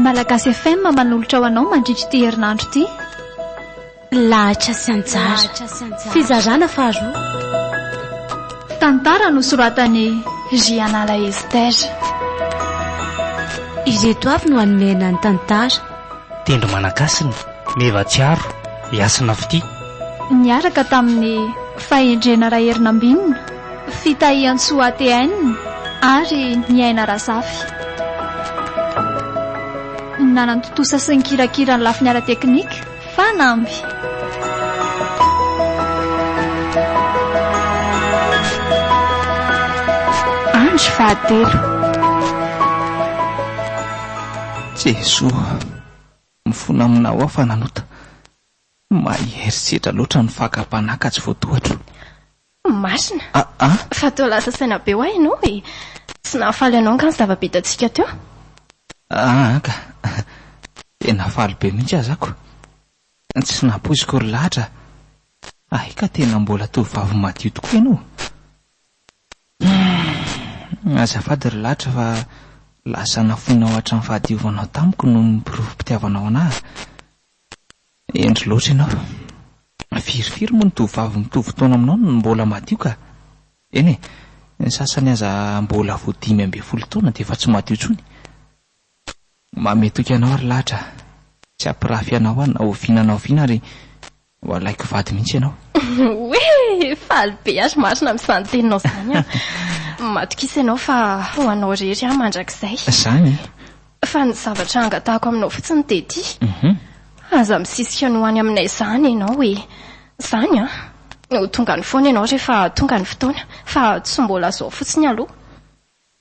Malagasy FM manolotra ho anao mandritra ity herinandro ity. Lahatra sy anjara. Fizarana faharoa. Tantara nosoratan'i Rianala Esther. Ireto avy no hanome anà ny tantara. Tendro Manankasina, Meva Tsiaro, i Hasina Fitia. Niaraka tamin'ny Fahendrena Raherinambinina, Fitahiantsoa ATN ary ny Aina Razafy. Nanantontosa sy nikirakira ny lafiny ara-teknika, Fanamby. Andro fahatelo. Jesoa mifona aminao aho fananota Mahay herisetra loatra ny fakam-panahy ka tsy voatohatro. Masina. Aa. Fa toa lasa saina be ho ahy ianao e! Tsy nahafaly anao angaha ny zava-bitantsika teo? Aa ka! Tena faly be mihitsy aza ako! Tsy nampoiziko ry lahatra! Hay ka tena mbola tovovavy madio tokoa ianao! Humm azafady ry ladra fa lasa nafoinao hatram fahadiovanao tamiko noho ny porofompitiavanao anah a! Hendry loatra ianao! Firy firy moa ny tovovavy mitovy taona aminao no mbola madio ka! Eny e, ny sasany aza mbola vao dimy ambin'ny folo taona dia efa tsy madio intsony! Mame toky anao ry latra a! Tsy hampirafy anao aho na oviana na oviana ary ho alaiko vady mihitsy ianao. Oee! Faly be azy marina amin'izany teninao izany aho. Matokisa ianao fa ho anao irery aho mandrakizay. Izany? Fa ny zavatra angatahako aminao fotsiny dia ity, aza misisika ny ho any aminay izany ianao e! Izany an! Ho tonga any foana ianao rehefa tonga ny fotoana fa tsy mbola izao fotsiny aloha.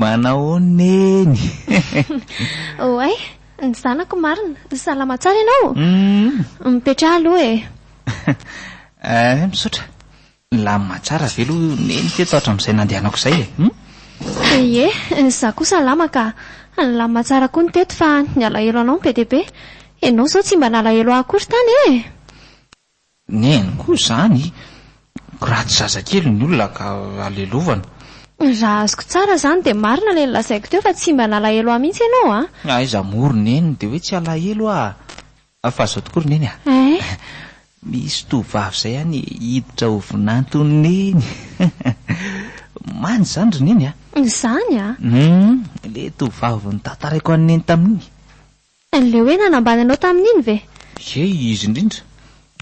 Manao neny. Oay, ny zanako marina. Salama tsara ianao? Mipetraha aloha e. Eh, misaotra. Nilamina tsara ve aloha neny teto hatramin'izay nandehanako izay e? Ie, izaho koa salama ka. Nilamina tsara koa ny teto fa ny alahelo anao no be dia be. Ianao izao tsy mba nalahelo ahy akory tany e! Neny koa izany, ratsy zazakely ny olona ka halelovana. Raha azoko tsara izany dia marina ilay nolazaiko teo fa tsy mba nalahelo ahy mihitsy ianao an! Aiza moa ry neny dia hoe tsy alahelo aho fa izao tokoa ry neny an! Misy tovovavy izay any hiditra ho vinanton'i neny Manja izany ry neny an! Izany an! Humm, ilay tovovavy notantaraiko an'i neny tamin'iny. Tsy an'ilay hoe nanambany anao tamin'iny ve? Ye, izy indrindra.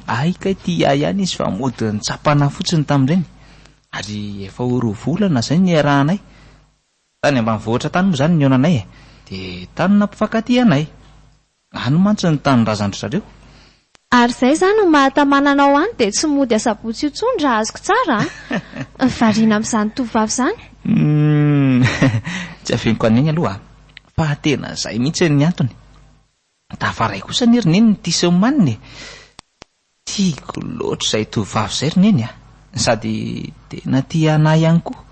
Ahy kay tia ahy ihany izy fa mody nitsapana ahy fotsiny tamin'ireny. Ary efa ho roa volana izay niarahanay. Tany ambanivohitra tany moa izany nihaona anay e. Dia tany nampifankatia anay. Any mantsy ny tanindrazan-dry zareo. Ary izay zany no maha tamana anao any dia tsy mody asabotsy io tsony raha azoko tsara a! Variana amin'izany tovovavy izany. Humm tsy afeniko an'iny aloha fa tena izay mihitsy ny antony. Tafaray kosa anie ry neny ny tisy omanina e! Tiako loatra izay tovovavy izay ry neny a! Sady tena tia anah ihany koa.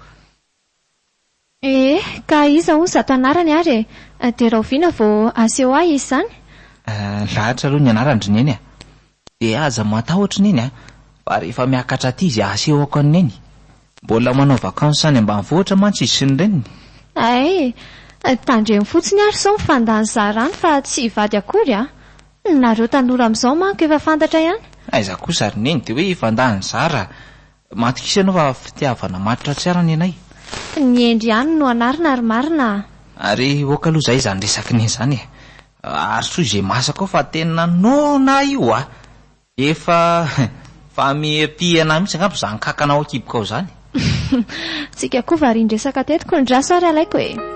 Ee, ka iza hozy ato anarany ary e? Dia rahoviana vao aseho ahy izy izany? Ee, lahatra aloha ny anaran-dry neny a! Dia aza matahotra neny a! Fa rehefa miakatra aty izy asehoko an'i neny. Mbola manao vacances any ambanivohitra mantsy izy sy ny reniny. Hay! Tandremo fotsiny ary sao mifandà ny zarany fa tsy hivady akory a! Nareo tanora amin'izao manko efa fantatra ihany. Aiza kosa ry neny dia hoe hifandà ny zara? Matokisa ianao fa fitiavana maty ratsy ara ny anay. Tsy ny hendry ihany no anarina ary marina a! Ary ok aloha zay izany resaky ny an'izany e! Ary soa izay masaka ao fa tena noana ahy io a! Efa fa miha-mpihena mihitsy angamba izany kankana ao an-kiboko ao izany e! Tsika koa varian-dresaka teto kony drasy ary alaiko e!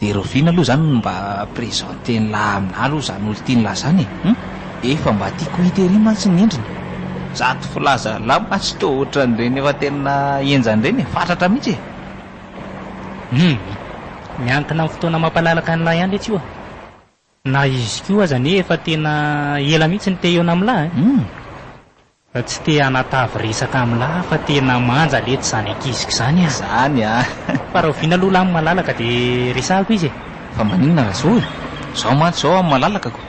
De Rovina aloha zany no mba presenter-ny lah aminah aloha zany olo tiany lah zany e! Hum! Efa mba tiako ho hita ery mantsy ny endriny. Zato filaza lah mantsy toa otran'ireny efa tena henjany ireny e! Fatratra mihitsy e! Hum! Miankina amin'ny fotoana mampalalaka an'lah ihany letsy io a! Na izy koa aza anie efa tena ela mihitsy no te-hihaona amin'lah eh! Fa tsy te hanatavy resaka amin'lah fa tena manja letsy izany ankiziko izany ah! Izany ah! Fa rahoviana aloha lah amin'i Malalaka dia resahako izy eh! Fa maninona raha izao eh! Izaho mantsy izao amin'i Malalaka ko!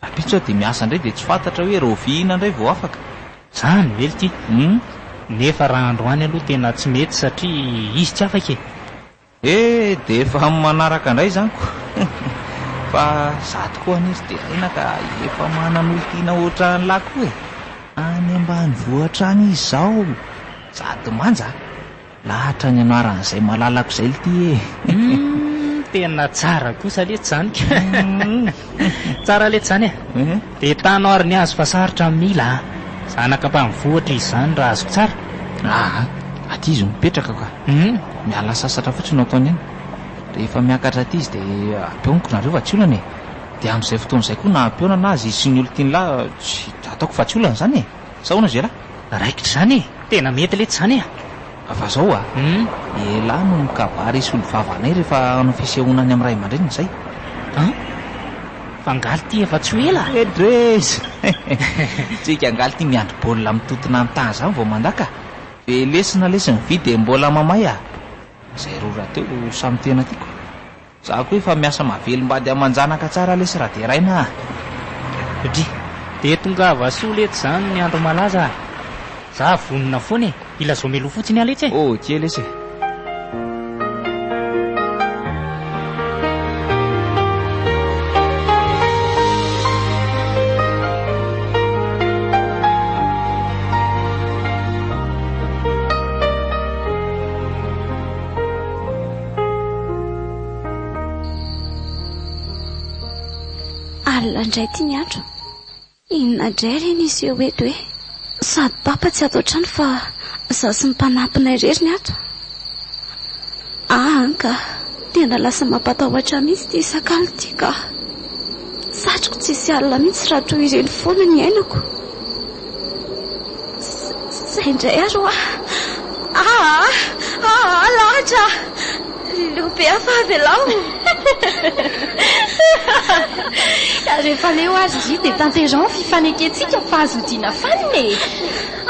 Rahampitso aho dia miasa indray dia tsy fantatra hoe rahoviana indray vao afaka! Izany ve ity! Hum! Nefa raha androany aloha tena tsy mety satria izy tsy afaka eh! He de efa am manaraka ndray zany ko fa za tokoa anie tsy de rena ka efa manan olon-tiana otran lah koa e. Any ambanivohitra any izy zao sady manja a! Lahatra ny anarany zay malalako zay lty e. Humm tena tsara kosa letsy zany ka. Tsara letsy zany e! Dia tano ary ny azy fa sarotra ny mila a! Zanaka mpamvoatra izy zany raha azoko tsara. Aa! Aty izy no mipetraka ka! Miala sasatra fotsiny no ataony any. Rehefa miakatra aty izy dia ampihaoniko nareo fa tsy olana e! Dia amin'izay fotoana izay koa na ampihaonana azy izy sy ny olon-tiany lahy tsy ataoko fa tsy olana zany e! Sa ahoana ry zalahy? Raikitra izany e! Tena mety letsy izany e! Fa zao a, elah no mikabary sy olom-bava anay rehefa hanao fisehoana any amin'ny ray aman-dreniny izay. An! Fa angaha ity efa tsy ho ela? Edrez! Tsika angaha ity miandry baolina amin'ny tontona an-tà izany vao mandà ka! Ve lesy na lesy ny vy dia mbola mamay a! Izay roa rahateo samy tena tiako. Za koa efa miasa mahavelombady aman-janaka tsara lesy raha deraina a! Satria. Dia tongava soa letsy zany ny andro malaza a! Za vonona foana e! Hilazao mialoha fotsiny aho letsy e! Ok lesy e! Alina indray ity ny andro. Inona indray re ny hiseho eto e? Sady papa tsy ato an-trano fa izaho sy ny mpanampinay irery ny ato. Aany ka, tena lasa mampatahotra ahy mihitsy ity sakalo ity ka. Satriko tsy hisy alina mihitsy raha toy ireny foana ny iainako. Zay indray ary hoa. Aa, aa, lahatra. Leo be hafa avelao. Rehefa leo ary ndry dia tanteraho ny fifanekentsika fa azo odiana fanina e.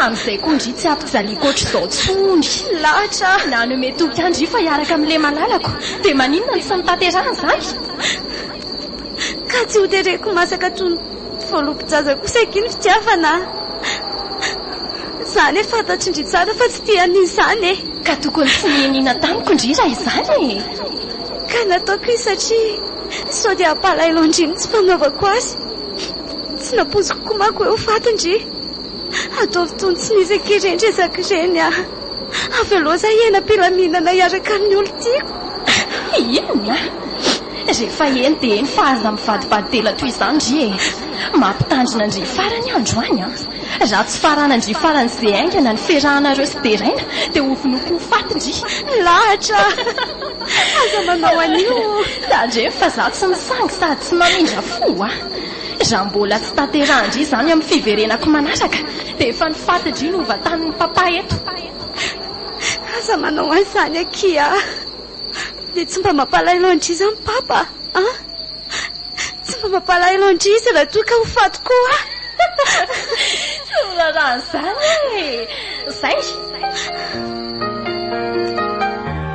Amin'izay koa ndry tsy hampijaliako ohatr'izao intsony. Lahatra. Nanome toky ahy ndry fa hiaraka amin'ny lehy malalako. Dia maninona no tsy notanterahan'izany? Ka tsy hotereko masaka toy ny. Voalobojaza kosa akia ny fitiavana a! Zany e, fantatry ndry tsara fa tsy tia an'izy zany e! Ka tokony tsy nihiniana tamiko ndry raha izany e! Ka nataoko izy satria sao dia hampalahelo andry ny tsy fanaovako azy. Tsy nampoiziko koa manko hoe ho faty ndry. Ataovy toy ny tsy nisy akia ireny resaka ireny a! Avy aloha zay hiaina am-pilaminana hiaraka amin'ny olon-tiako. Inona? Rehefa eny dia eny fa aza mivadibadidela toy izany ndry e! Mampitandrina ndry farany andro any an! Raha tsy farana ndry farany ze haingana niferahanareo sy deraina dia hovonoiko ho faty ndry! Milahatra! Aza manao an'io! Tandremo fa za tsy misangy sady tsy mamindra fo a! Raha mbola tsy tanterahan-dry izany amin'ny fiverenako manaraka Dia efa ny faty dry no vatanin'i Papa eto. Aza manao an'izany akia a! Dia tsy mba mampalahelo an-dry izany Papa a! Tsy mba mampalahelo an-dry izy raha toa ka ho faty koa aho. Tsy miraharaha an'izany e! Izay!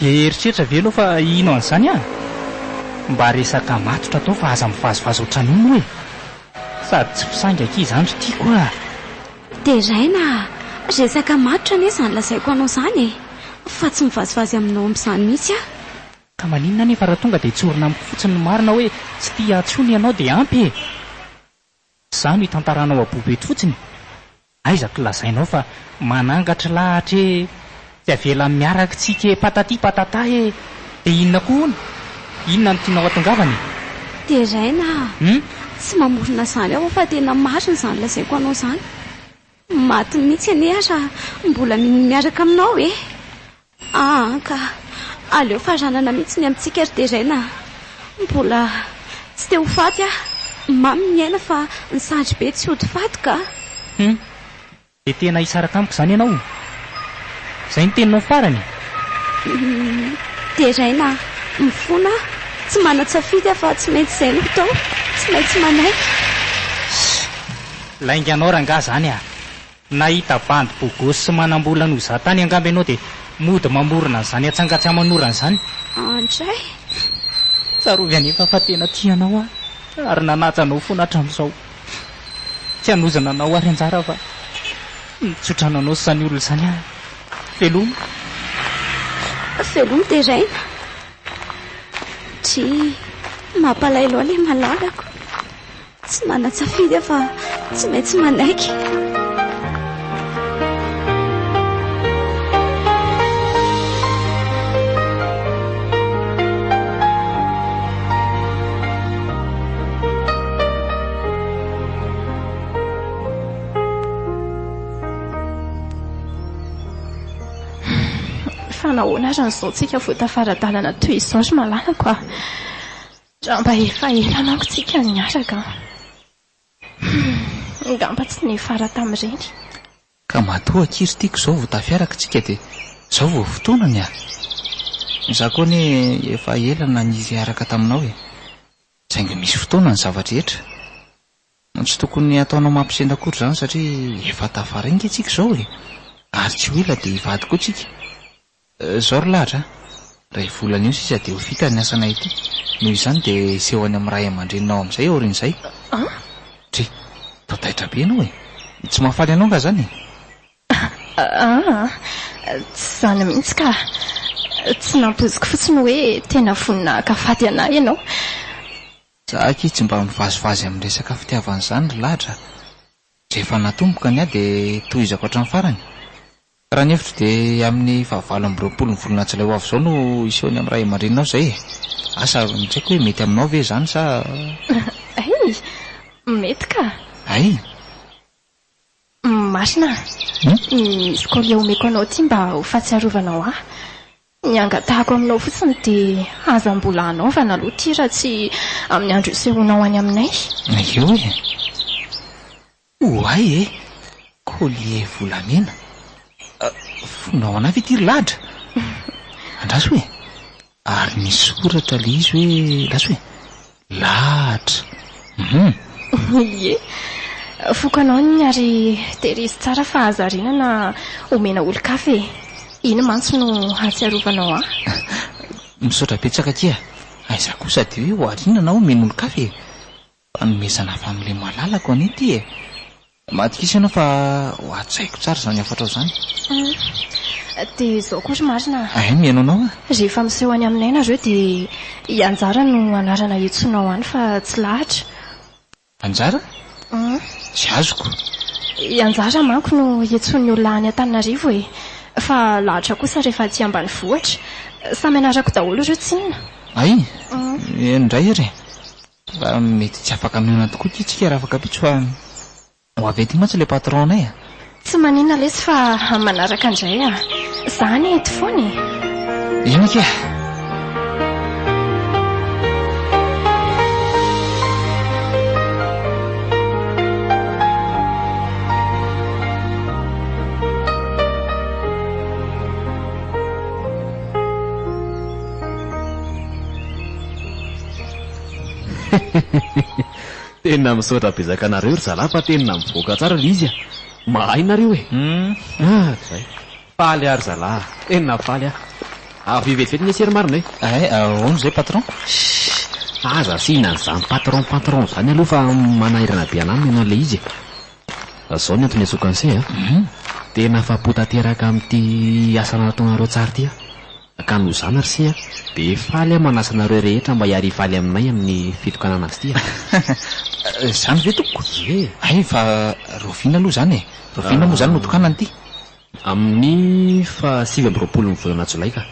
Dia eritreritra ve ianao fa hino an'izany aho? Mba resaka matotra atao fa aza mivazivazy ohatran'io moa e! Sady tsy mpisaingy akia izany ry tiako ah! Deraina ah! Resaka matotra anie izany lazaiko anao izany e! Fa tsy mivazivazy aminao amin'izany mihitsy aho! Ka maninona anefa raha tonga dia tsorina amiko fotsiny ny marina hoe tsy tia ahy intsony ianao dia ampy e! Za no itantarana ao abobo eto fotsiny? Aiza ko lazainao fa manangatr lahatra ee tsy avela miarak tsika ee patati patata ee de inona ko hono? Inona no tianao atongavana e? Deraina a! Tsy mamorona izany aho fa tena marina izany lazaiko anao izany. Maty mihitsy anie aho raha mbola minia miaraka aminao e! Aa ka! Aleo faranana mihitsy ny amintsika ry Terena a! Mbola tsy te ho faty aho! Mamy ny aina fa ny sandry be tsy hody faty ka! Hum! Dia tena hisaraka amiko izany ianao e! Izay ny teninao farany e! Hum! Terena a! Mifona aho! Tsy manan-tsafidy aho fa tsy maintsy izay no hatao! Tsy maintsy manaiky! Shh! Lainga anao rangahy izany a! Nahita bandy bogosy sy manambola an'o za tany angamba ianao dia mody mamorona an'izany atsangatsaman'orana izany. Andray! Tsarovy anefa fa tena tia anao aho ary nanaja anao foana hatramin'izao. Tsy hanozona anao ary anjara aho fa nitsotrano anao sy izany olona izany aho. Veloma! Veloma deraina! Dry! Mampalahelo ahy ilay malalako. Tsy manan-tsafidy aho fa tsy maintsy manaiky. nahoana ary ny zontsika vao tafara-dalana toy izao ry malalako a! Ngamba efa ela manko tsika niaraka an! Humm! Ngamba tsy niafara tamin'ireny. Ka matoa akia ry tiako izao vao tafiaraka tsika dia izao vao fotoana ny ah! Izaho koa anie efa ela na niaraka taminao e! Saingy misy fotoana ny zava-drehetra. Tsy tokony hataonao mampisendra akory izany satria efa tafara enga tsika izao e! Ary tsy ho ela dia hivady koa tsika. Zao ry lahatra a! Ray volana eo sisa dia ho vita ny asanay ity, noho izany dia seho any amin'ny ray aman-dreninao amin'izay aorian'izay. Dry, toa taitra be ianao e! Tsy mahafaly anao angaha izany e? Aa! Tsy izany mihitsy ka! Tsy nampoiziko fotsiny hoe tena vonona haka faty anà ianao. Za akia tsy mba mivazivazy amin'ny resaka fitiavana izany ry lahatra a! Rehefa natomboka ny ahy dia tohizako hatramin'ny farany. Raha ny hevitro dia amin'ny fahavalo amby roapolo ny volana jolay ho avy izao no hiseho ny amin'ny ray aman-dreninao izay e! Asa ary no tsy haiko hoe mety aminao ve izany sa. Hay! Mety ka! Hay! Masina a! Misy courrier omeko anao ity mba ho fahatsiarovanao ahy. Ny angatahako aminao fotsiny dia aza mbola anaovana aloha ity raha tsy amin'ny andro isehoanao any aminay. Eo e! Oay e! Collier volamena. Fonao anay ve ity ry ladra? Andraso e! Ary misy soratra le izy hoe andraso hoe lahatra. Hum. Ie, foko anao ny ary tehirizo tsara fa aza rinana omena olon-kafa e! Iny mantsy no hahatsiarovanao ahy. Misaotra betsaka akia. Aiza koa sady hoe ho arinana aho omena olon-kafa e! Fanomezana family malalako anie ity e! Matokisa ianao fa ho hajaiko tsara izany hafatrao izany. Humm. Dia izao koa ry marina a! Ahem, ianao nao a! Rehefa miseho any aminay nareo dia i Anjara no anarana iantsoanao any fa tsy lahatra. Anjara? Humm. Tsy azoko. I Anjara manko no iantsoan'ny olona any Antananarivo e! Fa lahatra kosa rehefa aty ambanivohitra. Samy anarako daholo ireo tsinona. Hay? Humm. Eny indray ary e! Fa mety tsy afaka mionona tokoa ity tsika Rafakapitso fa ho avy aty mantsy le patron anay a! Tsy manina lesy fa am manaraka ndray a! Za anie eto foana e! Eny ake a! Tena misaotra bezaka anareo ry zalahy fa tena mivoaka tsara ilay izy a! Mahay nareo e! Hatrizay! Faly aho ry zalahy, tena faly aho! Avia vetivety ny essai ry marina e! Ay, ahoana izay patron? Shh! Aza asiana an'izany patron patron izany aloha fa manahirana be an'aminy ianao ilay izy e! Izao ny antony antsoiko an'essai a! Tena afa-po tanteraka amin'ity asa nataonareo tsara ity aho! Ka noho izany r'se a, de faly aho manasa anareo rehetra mba hiary hifaly aminay amin'ny fitokanana azy ity a. Izany ve tompoko? Ie. Hay fa rahoviana aloha izany e? Rahoviana moa izany no tokanana ity? Amin'ny faha sivy amby roapolon'ny volana jolay ka.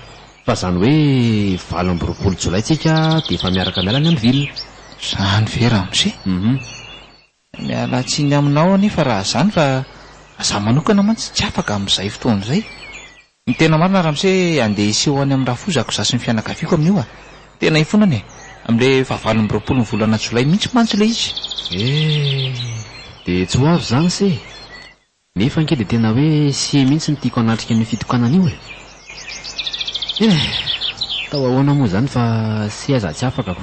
Fa izany hoe valo amby roapolo jolay tsika dia efa miaraka miala any amin'ny ville. Izany ve ramose? Hum. Miala tsiny aminao anefa raha zany fa za manokana mantsy tsy afaka amin zay fotoana zay. Ny tena marina ramose andeha hiseho any amin rafozako za sy ny fianakaviako aminio a! Tena hifonana e! Amin le fahavalo amby roapolo ny volana jolay mintsy mantsy le izy. Eehh! Dia tsy ho avy izany se! Nefa ange dia tena hoe sie mihitsy no tiako hanatrika an'io fitokanana io e! Eehh! Atao ahoana moa izany fa sie aza tsy afaka ko!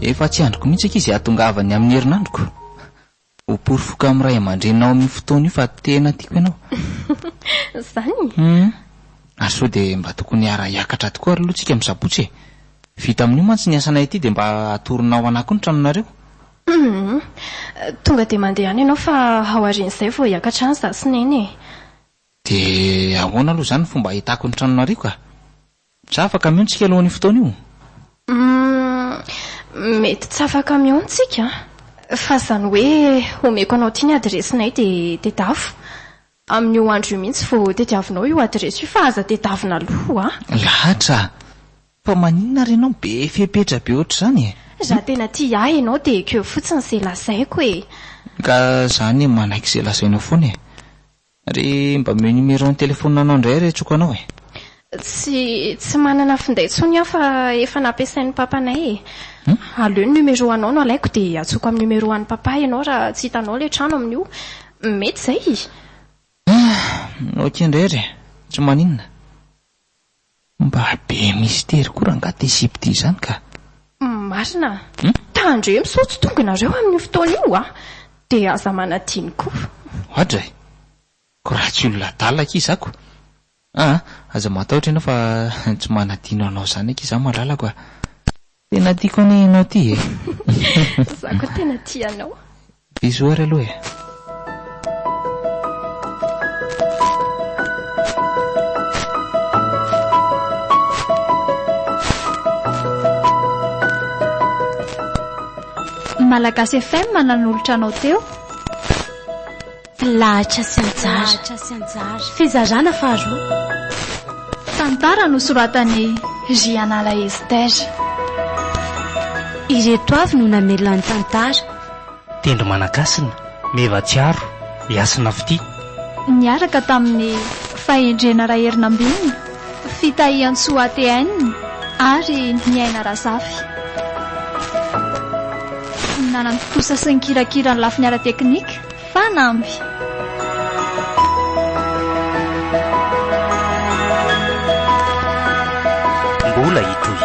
Efa tsy andriko mihitsy ankizy hahatongavany amin'ny herinandroko. Ho porofoiko amin'ny ray aman-dreninao amin'io fotoana io fa tena tiako ianao. Izany? Humm. Ary sao dia mba tokony hiara-hiakatra tokoa ary aloha tsika amin'ny sabotsy e. Vita amin'io mantsy ny asanay aty dia mba atoronao ana koa ny tranonareo. Humm. Tonga dia mandeha any ianao fa aorian'izay vao hiakatra any izaho sy Neny e. Dia ahoana aloha izany ny fomba hahitako ny tranonareo ka? Dra afa camion tsika alohan'io fotoana io? Humm mety tsy afa camion tsika fa izany hoe omeko anao ity ny adiresinay dia tedavo. Amin'io andro io mihitsy vao tediavinao io adiresy io fa aza tedavina aloha a! Lahatra a! Fa maninona ary ianao be fepetra be ohatr'izany e? Raha tena tia ahy ianao dia ekeo fotsiny izay lazaiko e! Ka za anie manaiky izay lazainao foana e! Re mba omeo numéro ny téléphone anao indray re tsoka anao e. Tsy tsy manana finday intsony aho fa efa nampiasain'ny papanay e. Aleo ny numéro anao no alaiko dia atsoko amin'ny numéro an'i papa ianao raha tsy hitanao ilay trano amin'io. Mety izay? Ah! Ok indray re. Tsy maninona. Mba be misitery koa rangah ty sipe ty izany ka. Marina a! Tandremo sao tsy tonga nareo amin'io fotoana io a! Dia aza manadino koa. Oadra e! Ko raha tsy olona adala akia za ko! Aa! Aza matahotra ianao fa tsy manadino anao zany akia za malalako a! Tena tiako anie ianao ty e. Za koa tena tia anao. Bisous ary aloha e. Malagasy FM nanolotra anao teo. Mpilahattra sy anjara. Fizarana faharoa. Tantara nosoratan'i Jianala Esther. Ireto avy no namelona ny tantara. Tendro Manankasina, Meva Tsiaro, i Hasina Fitia. Niaraka tamin'i Fahendrena Raherinambinina, Fitahiantsoa ATN, ary Niaina Razafy. Nanana ny tontosa sy ny kirakira ny lafiny ara-teknika. Fanamby. Mbola hitohy.